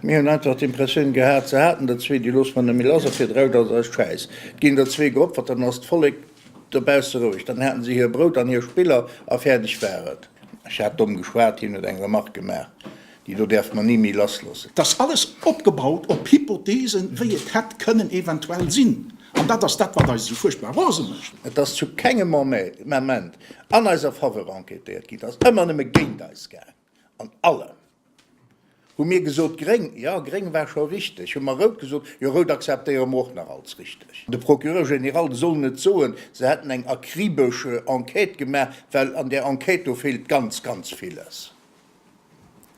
Mir hunn einfach d'Impressioun gehat, se haten der zwee, déi loosse mer net méi lass a fir 3.000 ass Schäiss. Et ginn der zwee geopfert, dann ass d'Vollek dobausse roueg. Dann haten se hir Brout an hir Spiller a fäerdeg war et. Ech hat domm geschwat, hien huet eng Remark gemaach. Déi do däerf mer ni méi lassloossen. Dat ass alles opgebaut op Hypothesen, wéi et hätt kënnen eventuell sinn. An dat ass dat, wat eis esou fuerchtbar rose mécht. Et ass zu kengem Ament an eiser Faveur enquêtéiert ginn. Et ass ëmmer nëmme géint eis gaang. An allem hu mir gesot, Gréng, jo, gréng war scho richteg. Hu mer rout gesot, jo, rout akzeptéiere mer och nach als richteg. De Procureur général soll net soen, se hätten eng akribesch Enquête gemaach, well an där Enquête do feelt ganz, ganz villes.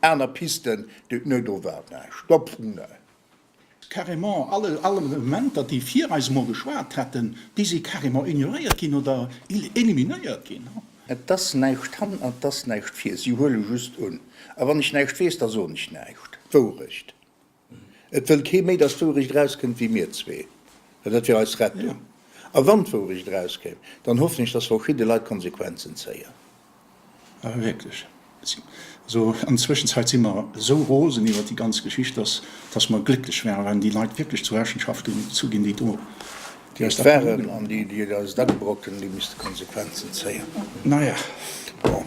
Aner Pisten déi d'Nuet do waren, Stopp vum Nuet. Carrément all Argumenter déi vir eis emol geschwat hätten, déi si carrément ignoréiert ginn oder eliminéiert ginn. Et ass näischt han an et ass näischt vir, si huele just un. A wann ech näischt weess, da soen ech näischt. Wourecht. Et wëll kee méi, dass d'Wourecht erauskënnt wéi mir zwee, well dat wier eis Rettung. A wann d'Wourecht erauskéim, dann hoffen ech, dass verschidde Leit d'Konsequenzen zéien. Awer wierklech, also an der Zwëschenzäit si mer esou rosen iwwert déi ganz Geschicht, dass dass mer glécklech wären, wann déi Leit wierklech zur Rechenschaft gezu ginn, déi do, déi eis dat ugedoen hunn. An déi, déi eis dat ubrocken hunn, déi misste Konsequenzen zéien. Naja, bon.